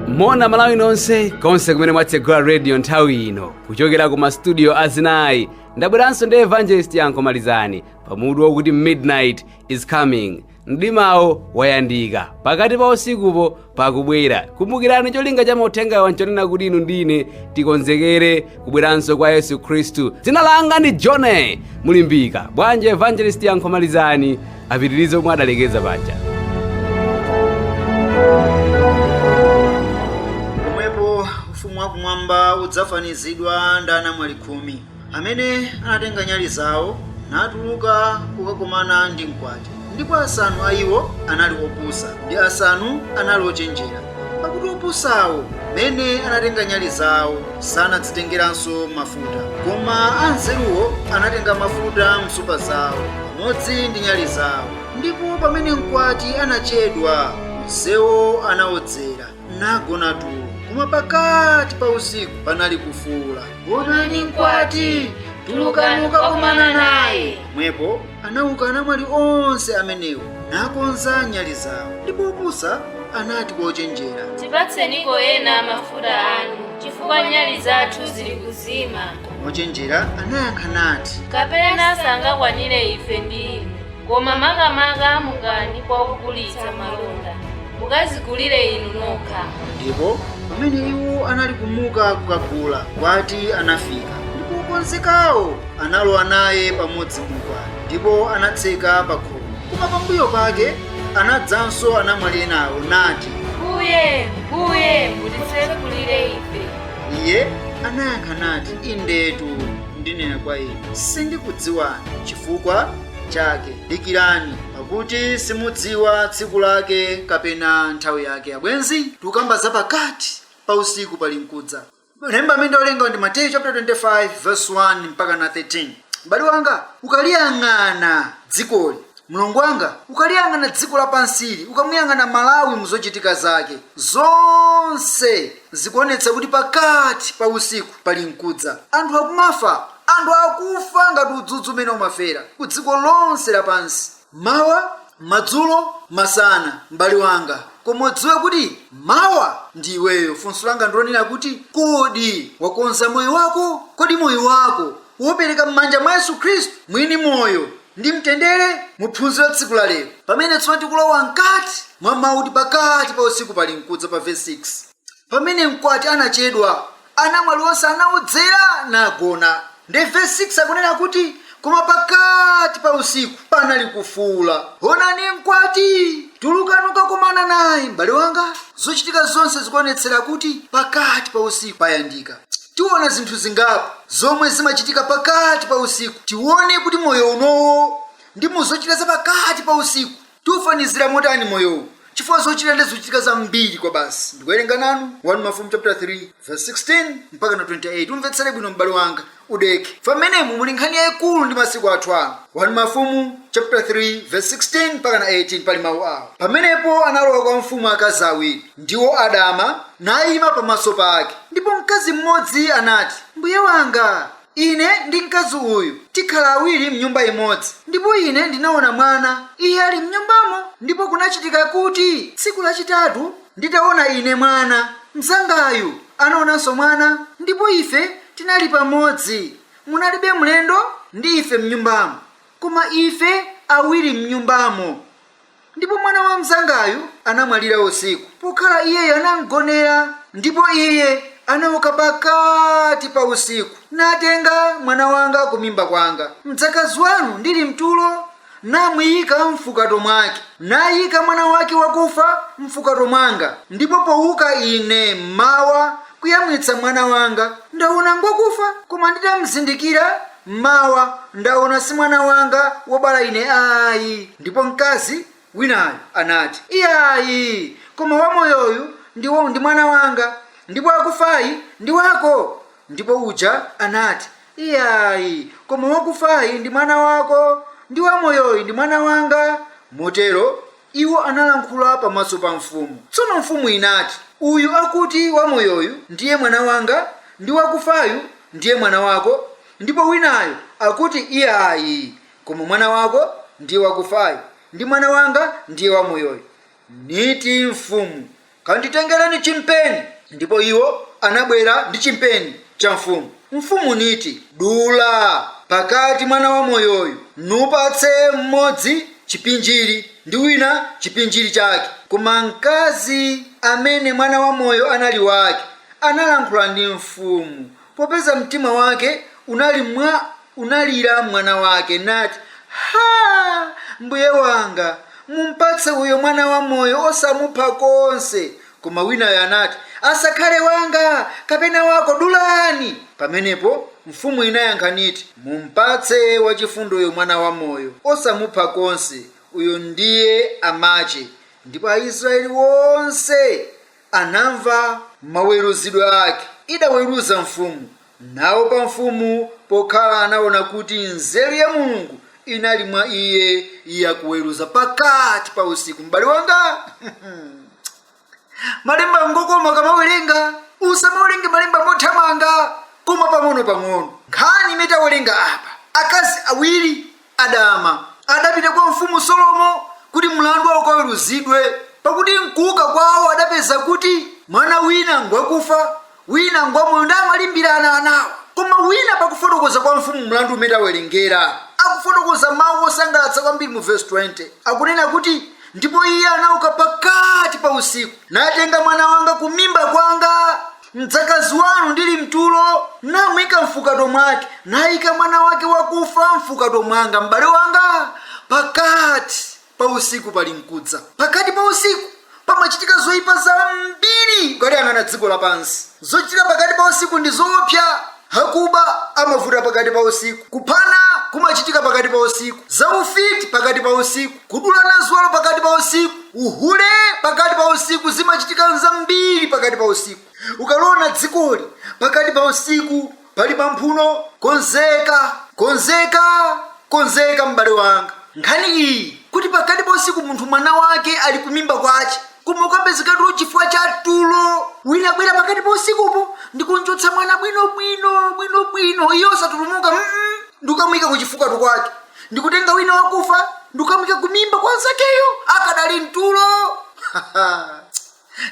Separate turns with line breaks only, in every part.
moni malawi nonse konse kumene mwatsegula radio nthawi ino kuchokera ku mastudio azinayi ndabweranso ndi evangelist yankho malizani pamutu wakuti midnight is coming mdimawo wayandika pakati pa usikupo pakubwera kumbukirani cholinga cha mauthengawa nchonena kuti inu ndi ine tikonzekere kubweranso kwa yesu khristu dzina langa ndi john mulimbika bwanji evangelist yankho malizani apitirize pomwe adalekeza
paja pomwepo ufumu wakumwamba udzafanizidwa ndi anamwali khumi amene anatenga nyali zawo natuluka kukakomana ndi mkwati. Ndipo asanu a iwo anali opusa, ndi asanu anali ochenjera. Pakuti opusawo, m'mene anatenga nyali zawo, sanadzitengeranso mafuta, koma anzeruwo anatenga mafuta m'nsupa zawo pamodzi ndi nyali zawo. Ndipo pamene mkwati anachedwa, onsewo anaodzera. nagona tulo koma pakati pa usiku panali kufuula onani mkwati tulukani kukakomana naye pomwepo anauka anamwali onse amenewo nakonza nyali zawo ndipo opusa anati kwa ochenjera
tipatseniko ena mafuta anu chifukwa nyali zathu zili kuzima koma ochenjera
anayankha nati kapena
sangakwanire ife ndi inu Koma makamaka mukani kwa ogulitsa malonda, mukadzigulire inu nokha.
Ndipo pamene iwo anali kumuka kukagula, mkwati anafika, ndipo okonzekawo analowa naye pamodzi mu ukwati, ndipo anatseka pa khomo. Koma pambuyo pake anadzanso anamwali enawo, nati,
Mbuye, Mbuye, mutitsegulire ife. Iye
anayankha nati, Indetu ndinena kwa inu, sindikudziwani. Chifukwa chake. Dikirani, pakuti simudziwa tsiku lake kapena nthawi yake. Abwenzi, tikukamba za pakati pa usiku pali mkudza. Lemba amene tawerenga ndi Mateyu chapter 25 verse 1 mpaka na 13. M'bale wanga, ukaliyang'ana dzikoli mlongo wanga ukaliyang'ana dziko lapansili ukamuyang'ana malawi muzochitika zake zonse zikuonetsa kuti pakati pa usiku pali mkudza. Anthu akumafa, anthu akufa ngati udzudzu umene umafera ku dziko lonse lapansi, mmawa, madzulo, masana. M'bale wanga, koma udziwe kuti mawa ndi iweyo. Funso langa ndi lonena kuti, kodi wakonza moyo wako? Kodi moyo wako waupereka mmanja mwa Yesu Khristu, mwini moyo? ndi mtendere mu phunziro la tsiku la lero. Pamene tsopano tikulowa mkati mwa mawu oti pakati pa usiku pali mfuu za pa vesi 6. Pamene mkwati anachedwa, anamwali onse anaodzera nagona. Ndi vesi 6 akunena kuti koma pakati pa usiku panali kufuula, onani mkwati! Tulukani kukakomana naye, m'bale wanga. Zochitika zonse zikuonetsera kuti pakati pa usiku payandika. tiona zinthu zingapo zomwe zimachitika pakati pa usiku. Tione kuti moyo unowo ndi mu zochitika za pakati pa usiku tiufanizira motani moyowu chifukwa zochitika ndi zochitika zambiri kwabasi. Ndikuwerenga nanu 1 Mafumu chapter 3 verse 16 mpaka na 28. Umvetsere bwino m'bale wanga udeke. Pamenemu muli nkhani yayikulu ndi masiku athu ano. 1 Mafumu chapter 3 verse 16 mpaka na 18 pali mawu awa. Pamenepo analowa kwa mfumu akazi awiri, ndiwo adama nayima pamaso pake. Ndipo mkazi mmodzi anati, Mbuye wanga, ine ndi mkazi uyu tikhala awiri mnyumba imodzi, ndipo ine ndinawona mwana, iye ali mnyumbamo. Ndipo kunachitika kuti tsiku lachitatu, nditawona ine mwana, mzangayu anawonanso mwana, ndipo ife tinali pamodzi, munalibe mlendo ndi ife mnyumbamo, koma ife awiri mnyumbamo. Ndipo mwana wa mzangayu anamwalira usiku, pokhala iyeyo anamgonera. Ndipo iye anauka pakati pa usiku, natenga mwana wanga kumimba kwanga, mdzakazi wanu ndili m'tulo, namuika m'fukato mwake, naika mwana wake wakufa m'fukato mwanga, ndipo pouka ine m'mawa kuyamwitsa mwana wanga, ndaona ngwakufa, koma nditamzindikira, M'mawa ndaona si mwana wanga wobala ine ayi. Ndipo mkazi winayo anati, Iyayi, koma wamoyoyu ndiye ndi mwana wanga, ndipo wakufayu ndi wako. Ndipo uja anati, Iyayi, koma wakufayu ndi mwana wako, ndi wamoyoyu ndi mwana wanga. Motero Iwo analankhula pamaso pa mfumu. Tsono mfumu inati, Uyu akuti, Wamoyoyu ndiye mwana wanga, ndi wakufayu ndiye mwana wako, ndipo winayo akuti, Iyayi, koma mwana wako ndiye wakufayu, ndi mwana wanga ndiye wamoyoyu. Niti mfumu, Kanditengereni chimpeni. Ndipo iwo anabwera ndi chimpeni cha mfumu. Mfumu niti, Dula pakati mwana wamoyoyu, nupatse mmodzi chipinjiri, ndi wina chipinjiri chake. Koma mkazi amene mwana wamoyo anali wake analankhula ndi mfumu, Popeza mtima wake unali mwa unalira mwana wake, nati, Ha! mbuye wanga, mumpatse uyo mwana wamoyo, osamupha konse. Koma winayo anati, Asakhale wanga, kapena wako, dulani! Pamenepo mfumu inayankha niti, Mumpatse wachifundoyo mwana wamoyo, osamupha konse, uyo ndiye amache, ndipo Aisrayeli onse anamva maweruzidwe ake idaweruza mfumu, naopa mfumu, pokhala anaona kuti nzeru ya Mulungu inali mwa iye yakuweruza pakati pa usiku. M'bale wanga, malemba ngokoma ukamawerenga, usamawerenge malemba mothamanga, koma pang'ono pang'ono. Nkhani imene tawerenga apa, akazi awiri adama, adapita kwa mfumu Solomo kuti mlandu wawo ukaweruzidwe, pakuti m'kuuka kwawo adapeza kuti mwana wina ngwakufa, wina ngwamoyo ndi amalimbirana anawo. Koma wina pakufotokoza kwa mfumu mlandu umene tawerengera, akufotokoza mawu osangalatsa kwambiri mu vesi 20. Akunena kuti, Ndipo iye anauka pakati pa usiku, natenga mwana wanga kumimba kwanga. Mdzakazi wanu ndili m'tulo, namuika m'fukato mwake, naika mwana wake wakufa m'fukato mwanga, m'bale wanga, pakati pa usiku pali nkudza, pakati pa usiku pamachitika zoipa zambiri, ukaliyang'ana dziko lapansi, zochitika pakati pa usiku ndi zoopsa. Akuba amavuta pakati pa usiku. Kuphana kumachitika pakati pa usiku. Zaufiti pakati pa usiku. Kudulana ziwalo pakati pa usiku. Uhule pakati pa usiku zimachitika nzambiri pakati pa usiku. Ukaliona dzikoli pakati pa usiku pali pamphuno. Konzeka, konzeka, konzeka m'bale wanga. Nkhani iyi kuti pakati pa usiku munthu mwana wake ali kumimba kwace. koma ukapezeka tulo chifukwa cha tulo wina abwera pakati pa usikupo ndikumchotsa mwana bwinobwino bwinobwino iye osatulumuka mm -mm. ndikamuyika kuchifukato kwake ndikutenga wina wakufa ndikamuyika kumimba kwa mnzakeyo akadali mtulo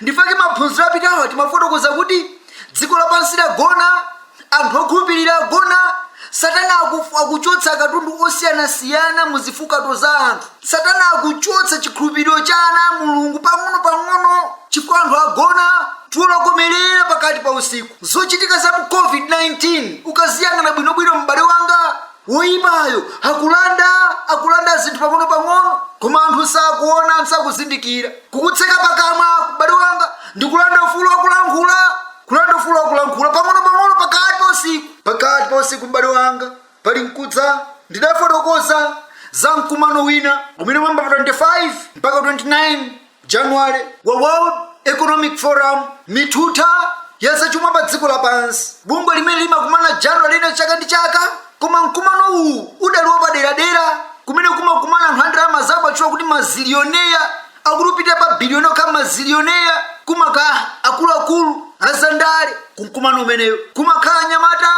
ndifake maphunziro apitawa timafotokoza kuti dziko lapansi lagona anthu okhulupirira agona satana akuchotsa akatundu osiyanasiyana mu zifukato za anthu satana akuchotsa chikhulupiriro cha ana a mulungu pang'ono-pang'ono chifukwa anthu agona tulo tokomerera pakati pa usiku zochitika za mu covid-19 ukaziyang'ana bwinobwino m'bale wanga Woipayo akulanda, akulanda zinthu pang'onopang'ono, koma anthu sakuona, sakuzindikira. Kukutseka pakamwa, m'bale wanga, ndi kulanda ufulu wa kulankhula, kulanda ufulu wa kulankhula, pang'onopang'ono, pakati pa usiku, pakati pa usiku, m'bale wanga, pali nkudza. Ndidafotokoza za mkumano wina umene unayamba pa 25 mpaka 29. January. Wa World Economic Forum, Mithutha ya zachuma pa dziko lapansi, bungwe limene limakumana January lino chaka ndi chaka, koma mkumano uwu udali wapaderadera kumene kumakumana anthu andalama zawo otchuka kuti mazilioneya akuti kupita pa biliyoni okha mazilioneya kumakhala akuluakulu azandale kumkumano umenewo kumakhala anyamata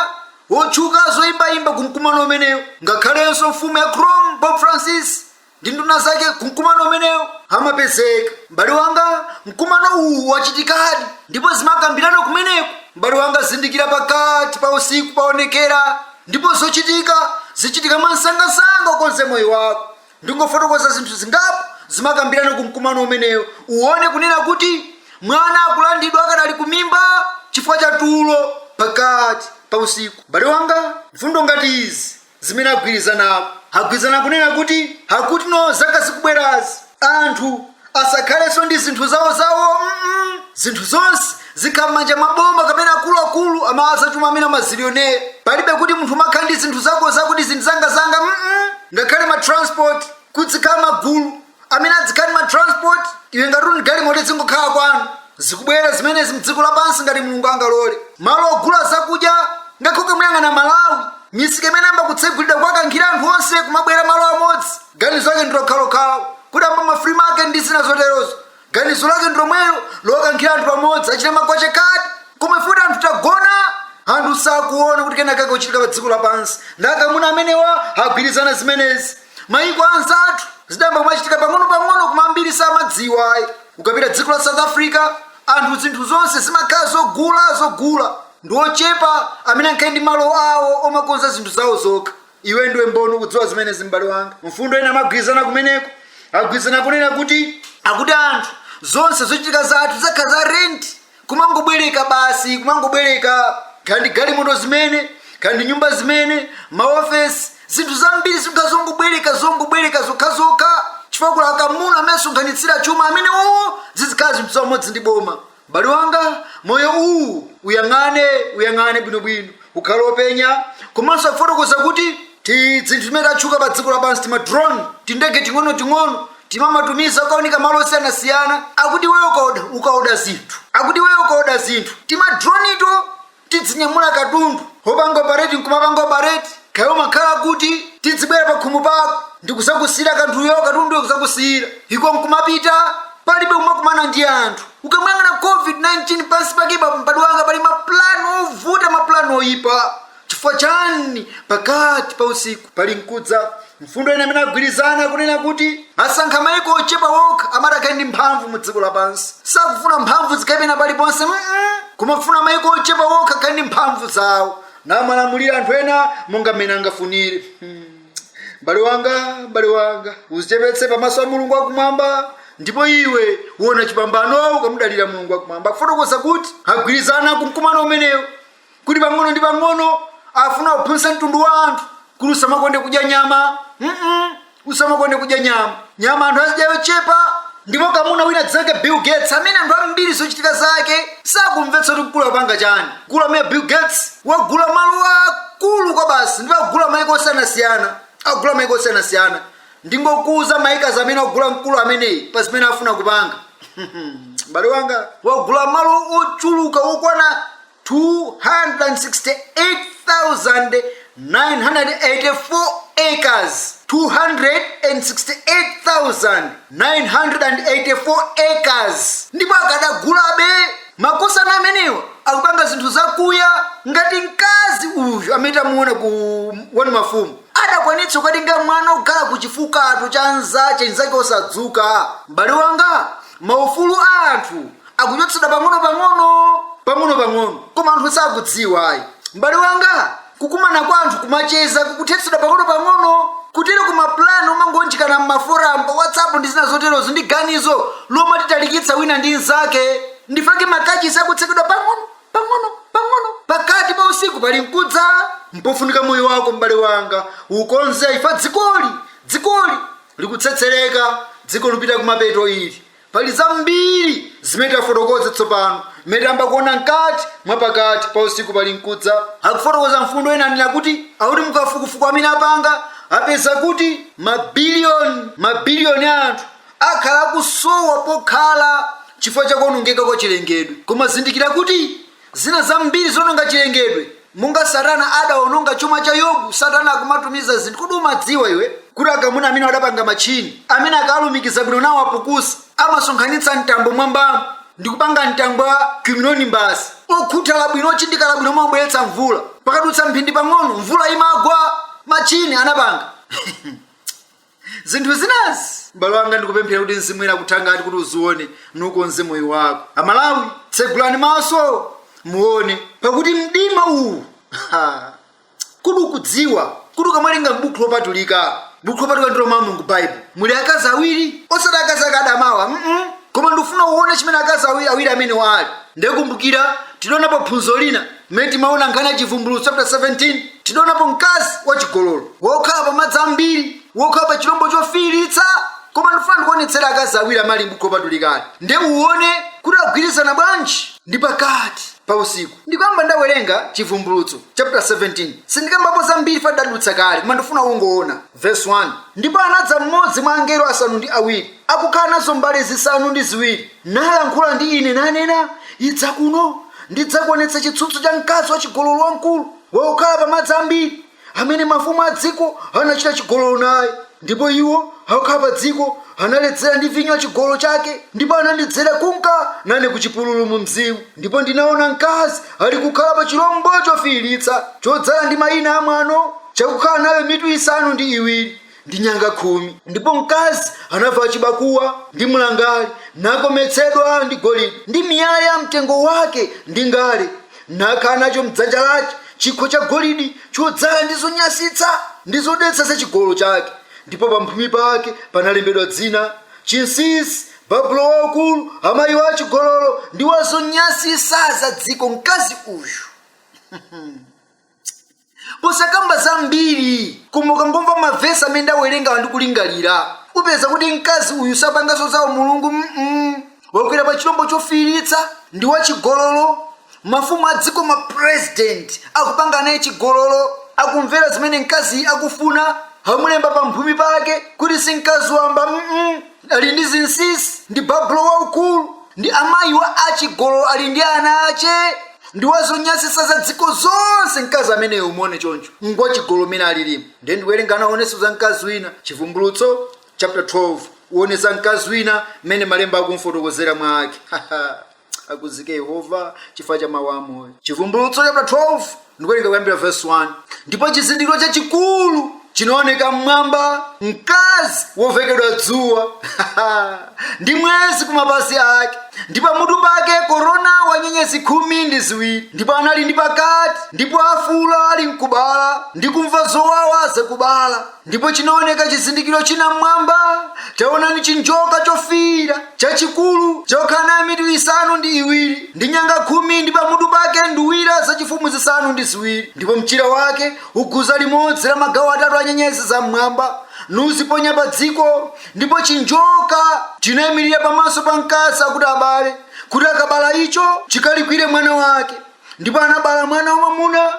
wotchuka zoyimbayimba kumkumano umenewo ngakhalenso mfumu ya Rome Pope Francis ndi nduna zake ku mkumano umenewu amapezeka m'bale wanga mkumano uwu wachitikadi ndipo zimakambirana kumeneko m'bale wanga zindikira pakati pa usiku paonekera ndipo zochitika zichitika mwansangasanga ukonze moyo wako ndingofotokoza zinthu zingapo zimakambirana ku mkumano umenewu uone kunena kuti mwana akulandidwa akadali kumimba chifukwa cha tulo pakati pa usiku m'bale wanga mfundo ngati izi zimene agwirizanapo. Agwirizana kunena kuti akuti mu zaka zikubwerazi anthu asakhalenso ndi zinthu zawozawo mm, zinthu zonse zikhala m'manja mwa boma kapena akuluakulu amenewa azachuma amene amazilioneya palibe kuti munthu umakhala ndi zinthu zako zakuti zinthu zangazanga mm, ngakhale ma transport kudzikhala magulu amene adzikhala ndi ma transport iwe ngati uli ndi galimoto idzingokhala kwanu zikubwera zimenezi mdziko lapansi ngati mulungu angalole malo ogula zakudya ngakhale ukamuyang'ana malawi misika imene ayamba kutsegulidwa kuwakankhira anthu onse kumabwera malo amodzi ganizo lake ndilokhalokhawo kuti amba ma free market ndi zina zoterozo ganizo lake ndi lomwelo lokankhira anthu pamodzi achita magwache kati koma ife kuti anthu tagona anthu sakuona kuti kena kake kuchitika pa dziko lapansi ndi akamuna amenewa agwirizana zimenezi mayiko anzathu zidayamba kumachitika pang'ono-pang'ono koma ambiri samadziwa ayi ukapita dziko la south africa anthu zinthu zonse zimakhala zogula zogula ndi ochepa amene amakhala ndi malo awo omakonza zinthu zawo zokha iwe ndiwe mboni ukudziwa zimenezi m'bale wanga mfundo ina amagwirizana kumeneko agwirizana kunena kuti akuti anthu zonse zochitika zathu zikhala za rent kumangobwereka basi kumangobwereka kaya ndi galimoto zimene kaya ndi nyumba zimene maofesi zinthu zambiri zikhala zongobwereka zongobwereka zokhazokha chifukwa kuli akamuna amene asonkhanitsira chuma amene wowo zizikhala zinthu zamodzi ndi boma M'bale wanga, moyo uwu, uyang'ane, uyang'ane bwinobwino, ukhale wopenya, komanso akufotokoza kuti tizinthu timene tatchuka pa dziko lapansi, tima drone, tindege ting'onoting'ono, timamatumiza kukaunika malo osiyanasiyana, akuti iweyo ukaoda zinthu, akuti iweyo ukaoda zinthu, timadronito tidzinyamula katundu opangidwa operate nkumapangidwa operate kaya umakhala kuti tidzibwera pakhomo pako ndikuzakusiyira kanthuyo katunduyo kuzakusiyira iko nkumapita palibe kumakumana ndi anthu ukamuyang'ana covid-19 pansi pake m'bale wanga pali mapulani ovuta mapulani oyipa chifukwa chani pakati pa usiku pali nkudza Mfundo ina imene agwirizana ikunena kuti asankha mayiko ochepa okha amati akhale ndi mphamvu mu dziko lapansi. Sakufuna mphamvu zikhale pena paliponse mm koma akufuna mayiko ochepa okha akhale ndi mphamvu zawo namalamulira anthu ena monga mmene angafunire. Hmm. M'bale wanga, m'bale wanga, uzichepetse pamaso a Mulungu wakumwamba ndipo iwe uona chipambano ukamudalira Mulungu wakumwamba. Akufotokoza kuti agwirizana ku mkumano umenewo kuti pang'ono ndi pang'ono afuna kuphunzitsa mtundu wa anthu kuti usamakonde kudya nyama mm usamakonde kudya nyama nyama anthu azidya yochepa ndipo kamuna wina dzake bill gates amene anthu ambiri zochitika zake sakumvetsa kuti mkulu akupanga chani mkulu ameneyu bill gates wagula malo akulu kwabasi ndipo wagula maiko osiyanasiyana agula maiko osiyanasiyana Ndingokuuza ma acres amene wagula mkulu ameneyi pa zimene afuna kupanga. M'bale wanga wagula malo ochuluka okwana 268,984 acres. 268,984 acres ndipo akadagulabe makosana amenewa akupanga zinthu zakuya ngati mkazi uyu amene tamuona ku 1 Mafumu. adakwanitsa kukatenga mwana okhala ku chifukato cha nzache nzake osadzuka m'bale wanga maufulu a anthu akuchotsedwa pang'ono pang'ono pang'ono pang'ono koma anthu sakudziwa ayi m'bale wanga kukumana kwa anthu kumacheza kukuthetsedwa pang'ono pang'ono kutero kuti ma plan omaunjikana m'maforamu pa whatsapp ndi zina zoterozo ndi ganizo lomwe titalikitsa wina ndi nzake ndifake makachisi akutsekedwa pang'ono Pang'ono, pang'ono, pakati pa usiku pali nkudza. Mpofunika moyo wako, m'bale wanga, ukonze chifukwa dzikoli. Dzikoli likutsetsereka, dziko likupita kumapeto ili. Pali zambiri zimene tafotokoza tsopano, mmene tayamba kuona mkati mwa pakati pa usiku pali nkudza. Akufotokoza mfundo ina anena kuti akuti mukafukufuku amene apanga apeza kuti mabiliyoni mabiliyoni a anthu akhala akusowa pokhala chifukwa cha kuonongeka kwa chilengedwe koma zindikira kuti zina zambiri zononga chilengedwe monga satana adaononga chuma cha yobu satana akumatumiza zinthu kodi umadziwa iwe kuti akamuna amenewa adapanga matchini amene akalumikiza bwino nawo apukusa amasonkhanitsa mtambo mwambamo ndi kupanga mtambo wa cumulonimbus okhuthala bwino ochindikala bwino omabweretsa mvula pakadutsa mphindi pang'ono mvula imagwa matchini anapanga zinthu zinazi m'bale wanga ndikupemphera kuti mzimu woyera akuthangate kuti uzione nukonze moyo wako amalawi tsegulani maso muone pakuti mdima uwu ha, kodi ukudziwa kuti ukamalinga m'buku lopatulika buku lopatulika ndilo mawu a mulungu baibulo muli akazi awiri osati akazi aadama awa mm koma ndikufuna uone chimene akazi awiri awiri amenewa ali ndikumbukira tidaonapo phunziro lina Mmene timaona nkhani ya Chivumbulutso chaputala 17, tidaonapo mkazi wachigololo wokhala pamadzi ambiri, wokhala pachilombo chofiiritsa. Koma ndifuna ndikuonetsere akazi awiri amene ali m'Buku Lopatulikali, nde uone kuti agwirizana bwanji ndi pakati pa usiku. Ndikuyamba ndawerenga Chivumbulutso chaputala 17. Sindikambapo zambiri chifukwa tidadutsa kale, koma ndifuna ungoona. Verse 1 Ndipo anadza mmodzi mwa angelo asanu ndi awiri, akukhala nazo mbale zisanu ndi ziwiri, nalankhula ndi ine, nanena, Idza kuno, ndidzakuonetsa chitsutso cha mkazi wachigololo wamkulu, wakukhala pa madzi ambiri, amene mafumu a dziko anachita chigololo naye. Ndipo iwo akukhala pa dziko analedzera ndi vinyo wa chigololo chake, ndipo anandidzera kunka nane ku chipululu mu mzimu. Ndipo ndinaona mkazi ali kukhala pa chirombo chofiiritsa, chodzala ndi maina a mwano, chakukhala nayo mitu isanu ndi iwiri, ndi nyanga khumi. Ndipo mkazi anavala chibakuwa, ndi mlangali, nakometsedwa ndi golidi, ndi miyala ya mtengo wake, ndi ngale, nakhala nacho m'dzanja lache chikho cha golidi chodzala ndi zonyansitsa ndi zodetsa za chigololo chake, ndipo pamphumi pake panalembedwa dzina, Chinsinsi Babulo Waukulu, amayi wa achigololo ndi wa zonyansitsa za dziko, mkazi uyu posakamba zambiri koma ukangomva mavesi amene ndawerengawa ndi kulingalira upeza kuti mkazi uyu sapanganso za Mulungu mm wakwera pa chilombo chofiiritsa ndi wachigololo mafumu a dziko ma president akupanga naye chigololo akumvera zimene mkaziyi akufuna amulemba pa mphumi pake kuti si mkazi wamba mm ali ndi zinsinsi ndi babulo waukulu ndi amayi wa achigololo ali ndi ana ache ndi wazonyansitsa za dziko zonse mkazi ameneyo umuone choncho ngwachigololo mene alilimo nde ndiwerenga naonenso za mkazi wina chivumbulutso chapter 12 uone za mkazi wina mmene malemba akumfotokozera mwa ake Akuzike Yehova chifukwa cha mawu amoyo. Chivumbulutso chaputala 12 ndikuwerenga kuyambira vesi 1. Ndipo chizindikiro chachikulu chinaoneka m'mwamba, mkazi wovekedwa dzuwa ndi mwezi kumapazi ake, ndi pamutu pake korona wa nyenyezi khumi ndi ziwiri. Ndipo anali ndi pakati, ndipo afuula ali mkubala, ndi kumva zowawa zakubala. ndipo chinaoneka chizindikiro china mmwamba taonani chinjoka chofiira chachikulu chokhala nayo mitu isanu ndi iwiri ndi nyanga khumi ndi pamutu pake nduwira zachifumu zisanu ndi ziwiri ndipo mchira wake uguza limodzi la magawo atatu a nyenyezi za mmwamba nuziponya pa dziko ndipo chinjoka chinayimirira pamaso pa mkazi akuti abale kuti akabala icho chikalikwire mwana wake ndipo anabala mwana wamwamuna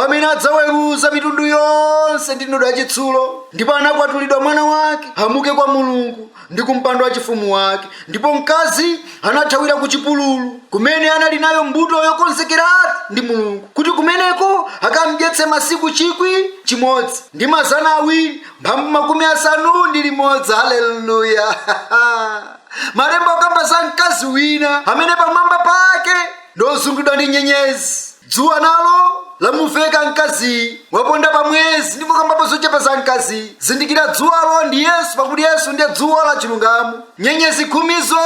amene adzaweruza mitundu yonse ndi ndodo yachitsulo ndipo anakwatulidwa mwana wake amuke kwa mulungu ndi kumpando wachifumu wake ndipo mkazi anathawira ku chipululu kumene anali nayo mbuto yokonzekeratu ndi mulungu kuti kumeneko akamdyetse masiku chikwi chimodzi ndi mazana awiri mphambu makumi asanu ndi limodzi haleluya malemba akamba za mkazi wina amene pamwamba pake ndozungulidwa ndi nyenyezi. Dzuwa nalo lamuveka mkaziyi, waponda pa mwezi ndipo kambapo zochepa za mkaziyi. Zindikira dzuwalo ndi Yesu pakuti Yesu ndiye dzuwa la chilungamo. Nyenyezi khumizo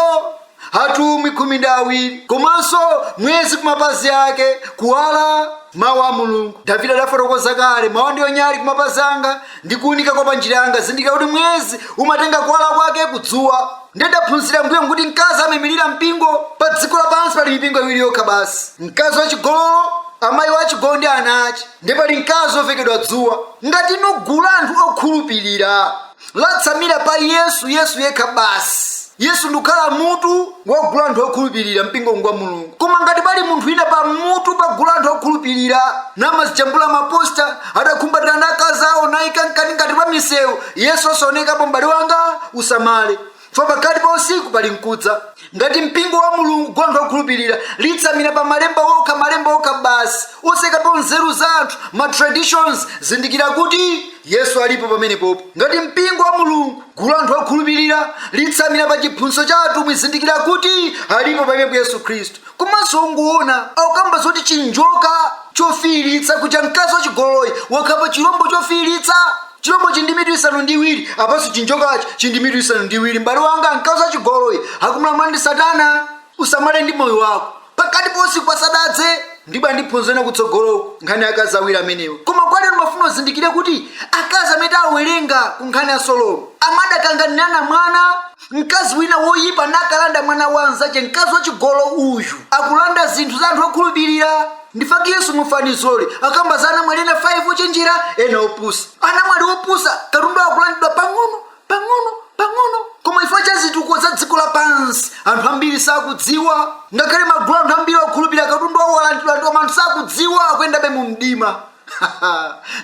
atumwi khumi ndi awiri komanso mwezi kumapazi ake kuwala mawu a mulungu davide adafotokoza kale mawu ndiyo nyali kumapazi anga ndi kuunika kwa panjira yanga zindikira kuti mwezi umatenga kuwala kwake kudzuwa ndiye tidaphunzira mbuyo kuti mkazi amaimirira mpingo pa dziko lapansi pali mipingo iwiri yokha basi mkazi wachigololo amayi wachigololo ndi ana ache ndiye pali mkazi ovekedwa dzuwa ngati inu gulu la anthu okhulupirira latsamira pa yesu yesu yekha basi Yesu ndikukhala mutu wa gulu anthu okhulupirira mpingo ngwa Mulungu. Koma ngati pali munthu wina pa mutu pa gulu anthu okhulupirira namazijambula maposta adakhumbatira ndi akazi awo naika m'makani ngati pa misewu Yesu osaonekapo m'bale wanga usamale ifa pakati pa usiku pali mkudza ngati mpingo wa mulungu gulu anthu okhulupirira litsamira pa malemba okha malemba okha basi osaikapo nzeru za anthu ma traditions zindikira kuti Yesu alipo pamenepopo. Ngati mpingo wa Mulungu, gulu anthu okhulupirira, litsamira pa chiphunzitso cha atumwi zindikira kuti alipo pamenepo Yesu Khristu. Komanso unguona akamba zoti chinjoka chofiiritsa kuja mkazi wachigololoyi wakhala pa chilombo chofiiritsa chilombo chili ndi mitu isanu ndi iwiri apanso chinjokachi chili ndi mitu isanu ndi iwiri m'bale wanga mkazi wachigololoyi akumlamula ndi satana usamale ndi moyo wako pakati pa usiku pasadadze ndipo tidzaphunziranso kutsogoloko nkhani ya akazi awiri amenewa koma kwa lero ndimafuna uzindikire kuti akazi amene awerenga ku nkhani ya solomo amadakanganirana mwana mkazi wina woyipa nakalanda mwana wa mnzache mkazi wachigololo uyu akulanda zinthu za anthu okhulupirira ndi ifa yake yesu mufanizo lake akamba za anamwali ena 5 ochenjera ena opusa anamwali opusa katundu wawo akulandidwa pang'ono pang'ono pang'ono koma chifukwa cha zitukuko za dziko lapansi anthu ambiri sakudziwa ngakhale magulu anthu ambiri okhulupirira katundu wawo walandidwa koma anthu sakudziwa akuyendabe mu mdima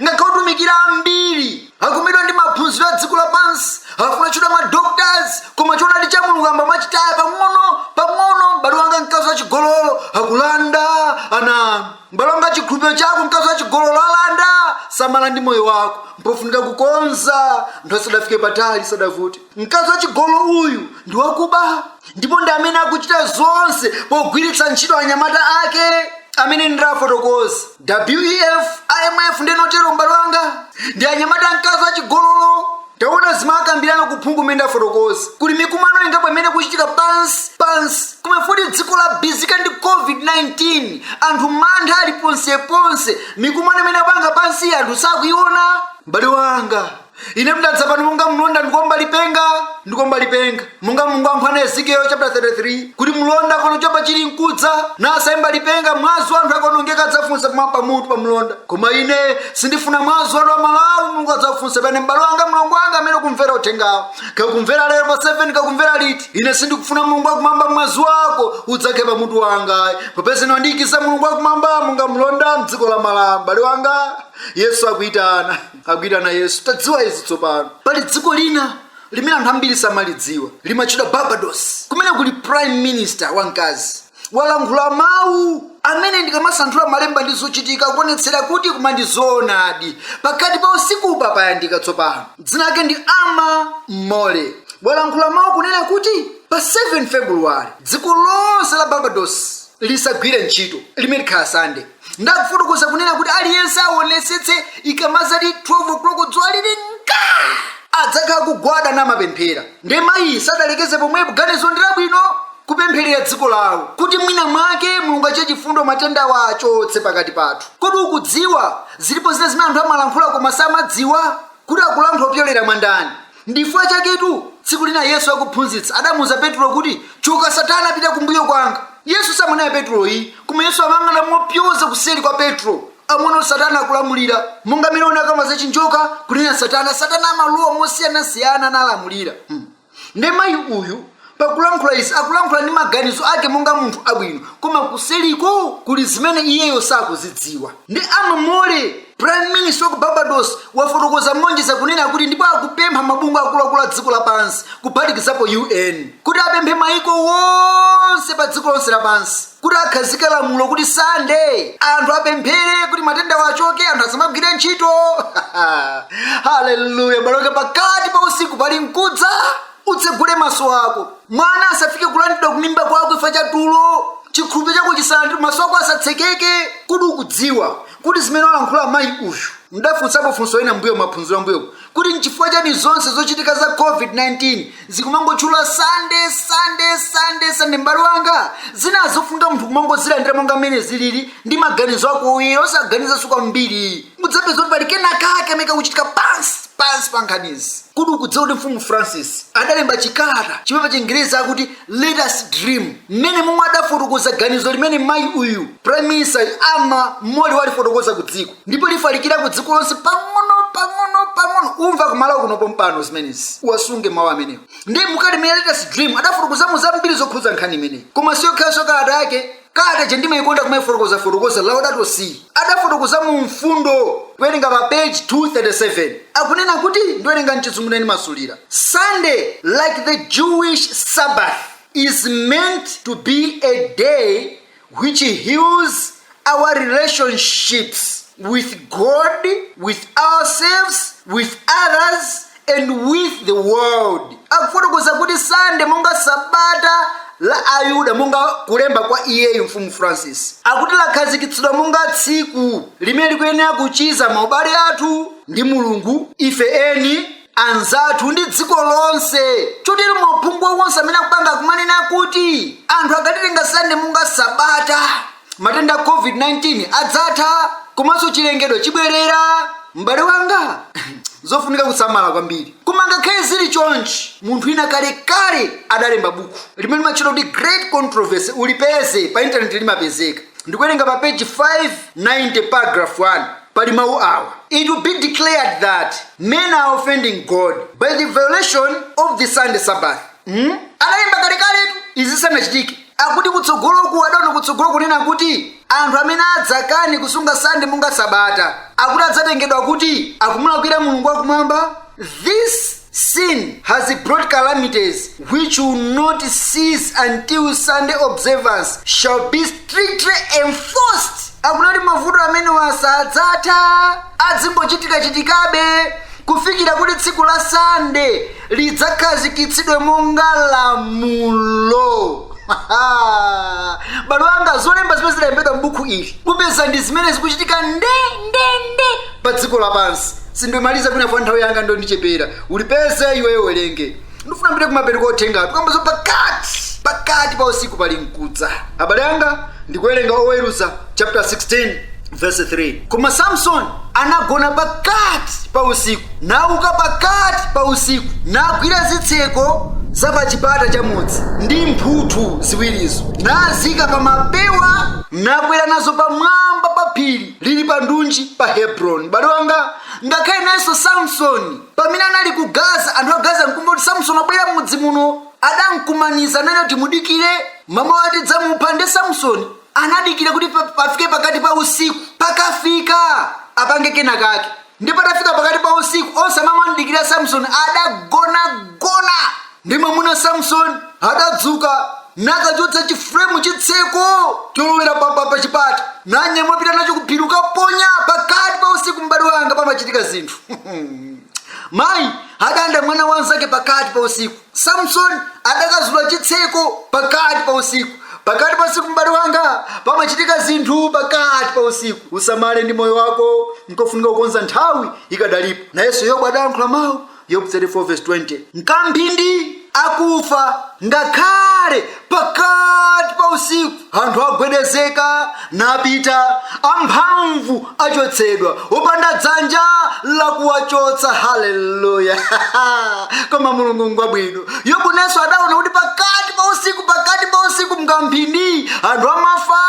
ngakhale otumikira ambiri akumezedwa ndi maphunziro a dziko lapansi afuna kutchedwa ma doctors koma choonadi cha mulungu ayamba kumachitaya pang'ono pang'ono m'bale wanga mkazi wa chigololo akulanda ana M'bale wanga, chikhulupiriro chako, mkazi wachigololo alanda. Samala ndi moyo wako, mpofunika kukonza. Nthawi sadafike patali, sadavute. Mkazi wachigololo uyu ndi wakuba, ndipo ndi amene akuchita zonse pogwiritsa ntchito anyamata ake amene ndafotokoza wef imf ndinotero m'bale wanga ndi anyamata a mkazi wachigololo taona zimakambirana ku phungu mmene ndafotokoza kuli mikumano ingapo imene kuchitika pansi pansi komanso futi dziko labizika ndi covid-19 anthu mantha ali ponseponse mikumano imene apanga pansi anthu sakuiona mbale wanga ine ndadza pano monga mlonda ndikuomba lipenga ndikuomba lipenga monga mulungu amphwana ezekiel chapter 33 kuti mlonda akaona choopsa chili mkudza nasaimba lipenga mwazi wa anthu akaonongeka adzafunsa pamwamba pa mutu pa mlonda koma ine sindifuna mwazi wanu a malawi mulungu adzafunse pa ine m'bale wanga mlongo wanga amene ukumvera uthengawu kaya ukumvera lero pa 7 kaya ukumvera liti ine sindikufuna mulungu wakumwamba mwazi wako udzakhale pa mutu wanga popeza wandiikiza mulungu wakumwamba monga mlonda mdziko la malawi m'bale wanga yesu akuitana akuitana yesu tadziwa izi tsopano pali dziko lina limene anthu ambiri samalidziwa limatchedwa barbados kumene kuli prime minister wamkazi walankhula mawu amene ndikamasanthula malemba ndi zochitika kuonetsera kuti koma ndi zoonadi pakati pa usiku payandikira tsopano dzina lake ndi ama mole walankhula mawu kunena kuti pa 7 februwari dziko lonse la barbados lisagwire ntchito limene likhala sande ndi kufotokoza kunena kuti aliyense awonetsetse ikamazati 12 o'clock dzuwa lili nka adzakhala kugwada namapemphera nde mayi sadalekeze pomwepo ganizo ndi labwino kupempherera dziko lawo kuti mwina mwake mulungu achite chifundo matendawa achotse pakati pathu kodi ukudziwa zilipo zina zimene anthu amalankhula koma samadziwa kuti akulankhula kupyolera mwa ndani Ndichifukwa chaketu tsiku lina Yesu akuphunzitsa adamuuza Petulo kuti, Choka Satana pita kumbuyo kwanga. Yesu samamunena Petulo ayi, koma Yesu amayang'ana mopyoza kuseli kwa Petro, amaona kuti Satana akulamulira. Monga mene unakamba za chinjoka kunena Satana, Satana amalowa mosiyanasiyana nalamulira. Hmm. Nde mayi uyu pakulankhula izi akulankhula ndi maganizo ake monga munthu wabwino koma kuseliko kuli zimene iyeyo sakuzidziwa ndi ama mole prime minister wa ku barbados wafotokoza moonjeza kunena kuti ndipo akupempha mabungwe akuluakulu a dziko lapansi kuphatikizapo un kuti apemphe maiko wonse pa dziko lonse lapansi kuti akhazike lamulo kuti sande anthu apemphere kuti matendawa achoke anthu asamagwire ntchito haleluya abale okondedwa pakati pa usiku pali mkudza Utsegule maso ako. Mwana asafike kulandidwa kumimba kwako chifukwa cha tulo. Chikhulupiriro chako chisalandidwe, maso ako asatsekeke. Kodi ukudziwa kuti zimene walankhula mayi uyu? Ndafunsapo funso lina mbuyo maphunziro ambuyoku kuti nchifukwa chani zonse zochitika za COVID-19 zikumangotchula sande sande sande sande m'bale wanga zina zofunga munthu kumangozilandira monga mmene zilili ndi maganizo ako uye osaganizanso kwambiri mudzapeza kuti pali kenakake kamene kakuchitika pansi pansi pa nkhanizi kodi ukudziwa kuti mfumu francis adalemba chikalata chimene pachingerezi akuti let us dream mmene momwe adafotokoza ganizo limene mayi uyu prime minister ama moli walifotokoza ku dziko ndipo lifalikira ku dziko lonse pang'ono pang'ono pang'ono umva kumalawi kuno pompano zimenezi uwasunge mawu amenewo ndi mu kalata imene let us dream adafotokozamo zambiri zokhudza nkhani imeneyi koma siyokhayo kalata yake kalata ija ndimaikonda kumaifotokozafotokoza laudato si adafotokoza mu mfundo kuwerenga pa page 237 akunena kuti ndiwerenga mchizungu ndiye ndimasulira sunday like the jewish sabbath is meant to be a day which heals our relationships with god with ourselves with others and with the world. Akufotokoza kuti Sande monga sabata la Ayuda monga kulemba kwa iyeyo mfumu Francis akuti lakhazikitsidwa monga tsiku limene likuyenera kuchiza maubale athu ndi Mulungu ife eni anzathu ndi dziko lonse chotero mwauphungu wonse amene akupanga akumanena kuti anthu akalitenga Sande monga sabata matenda a covid-19 adzatha komanso chilengedwe chibwerera m'bale wanga zofunika kusamala kwambiri koma ngakhale zili chonchi munthu wina kalekale adalemba buku limene limatchedwa kuti great controversy ulipeze pa intaneti limapezeka ndikuwerenga pa page 590 paragraph 1 pali mawu awa it will be declared that men are offending god by the violation of the sunday sabbath hmm? adalemba kalekaletu izi sanachitike Akuti kutsogoloku adaona kutsogolo kunena kuti anthu amene adzakane kusunga Sunday monga sabata akuti adzatengedwa kuti akumulakwira Mulungu wakumwamba this sin has brought calamities which will not cease until Sunday observance shall be strictly enforced akunena kuti mavuto amenewa sadzatha azingochitikachitikabe kufikira kuti tsiku la Sunday lidzakhazikitsidwe monga lamulo abale anga zolemba zimene zidalembedwa m'buku ili mupeza ndi zimene zikuchitika nde nde nde pa dziko lapansi sindimaliza chifukwa nthawi yanga yandichepera ulipeze iweyo uwerenge ndifuna ndibwere kumapeto kwa uthenga tukamba za pakati pakati pa usiku pali mkudza abale anga ndikuwerenga oweruza chapter 16 verse 3 koma samsoni anagona pakati pa usiku nauka pakati pa usiku nagwira zitseko za pa chipata cha mudzi ndi mphuthu ziwirizo nazika pa mapewa nakwera nazo pamwamba pa phiri lili pa ndunji pa hebroni m'bale wanga ngakhale nayenso samsoni pamene anali ku gaza anthu a gaza nkumva kuti samsoni wabwera mudzi muno adankumaniza nanena kuti mudikire mamawa tidzamupha nde samsoni anadikira kuti pa- pafike pakati pa usiku pakafika apange kena kake ndi patafika pakati pa usiku onse amene amamdikira samsoni adagonagona ndi mwamuna samsoni adadzuka nakachotsa chifuremu chitseko cholowera pa- pa- pa chipata nanyamula napita nacho kuphiri kukaponya pakati pa usiku m'bale wanga pamachitika zinthu mayi adalanda mwana wa nzake pakati pa usiku samsoni adakazula chitseko pakati pa usiku pakati pa usiku m'bale wanga pamachitika zinthu pakati pa usiku usamale ndi moyo wako nkofunika kukonza nthawi ikadalipo nayenso yobu adayankhula mawu yobu 34:20 mkamphindi akufa ngakhale pakati pa usiku anthu agwedezeka napita amphamvu achotsedwa opanda dzanja lakuwachotsa haleluya koma mulungu ngwabwino yobu nayenso adaona kuti pakati pa usiku pakati pa usiku mkamphindi anthu amafa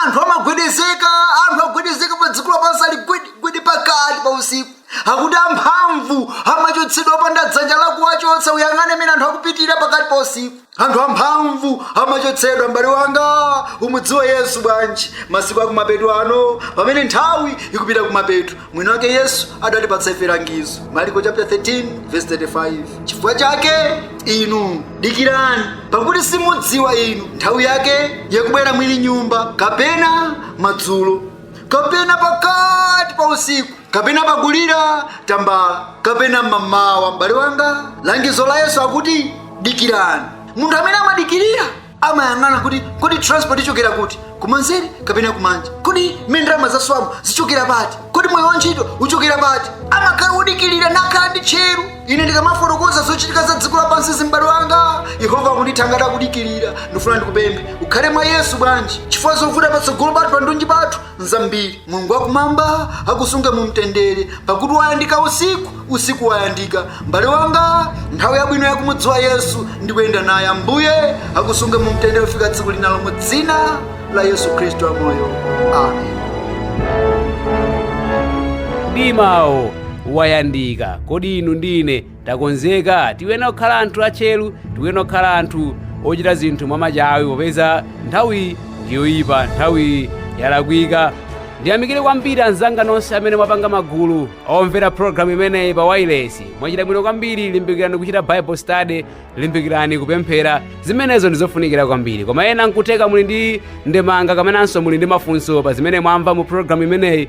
anthu amagwedezeka anthu agwedezeka pa dziko lapansi ali gwedegwede pakati pa usiku akuti amphamvu amachotsedwa opanda dzanja lakuwachotsa uyang'ane mene anthu akupitira pakati pa usiku anthu amphamvu amachotsedwa m'bale wanga umudziwe yesu bwanji masiku akumapeto ano pamene nthawi ikupita kumapeto mwini wake yesu adatipatsa ife langizo maliko chapter 13 verse 35 chifukwa chake inu dikirani pakuti simudziwa inu nthawi yake yakubwera mwini nyumba kapena madzulo kapena pakati pa usiku kapena pakulira tambala kapena mamawa m'bale wanga langizo la yesu akuti dikirani munthu amene amadikirira amayang'ana kuti kodi transport ichokera kuti kumanzere kapena kumanja kodi mmene ndalama zaswamu zichokera pati kodi mwayi wa ntchito uchokera pati amakhala wodikirira nakhala ndi tcheru ine ndikamafotokoza zochitika za dziko lapansizi m'bale wanga yehova akundithangata kudikirira ndifuna ndikupemphe ukhale mwa yesu bwanji chifukwa zovuta patsogolo pathu pandunji pathu nzambiri mulungu wakumwamba akusunge mu mtendere pakuti wayandika usiku usiku wayandika m'bale wanga nthawi yabwino yakumudziwa yesu ndi kuyenda naye ambuye akusunge mu mtendere kufika tsiku linalo mu dzina la yesu khristu wamoyo
amen mdimawo wayandika kodi inu ndi ine takonzeka. Tiyenera kukhala anthu atcheru, tiyenera kukhala anthu ochita zinthu mwamachawi popeza nthawiyi ndi yoyipa, nthawiyi yalakwika. Ndiyamikire kwambiri anzanga nonse amene mwapanga magulu omvera program imeneyi pa wailesi. Mwachita bwino kwambiri, limbikirani kuchita Bible study, limbikirani kupemphera. Zimenezo ndi zofunikira kwambiri. Koma ena nkutheka muli ndi ndemanga kapenanso muli ndi mafunso pa zimene mwamva mu program imeneyi,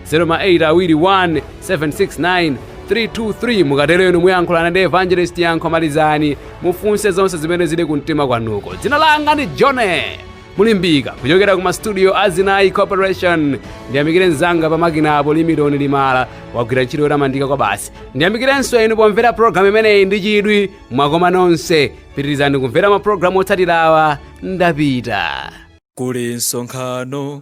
0 ma 8 awiri 1 769 323 mukatero inu muyankhulana ndi evangelist yankho malizani mufunse zonse zimene zili ku mtima kwanuko dzina langa ndi jone mulimbika kuchokera ku mastudio a zinayi corporation ndiyamikire mzanga pa makina apo limidoni limala wagwira ntchito yotamandika kwabasi ndiyamikirenso inu pomvera programu imeneyi ndi chidwi mwakomanonse pitirizani kumvera mapulogalamu otsatirawa ndapita kuli
msonkhano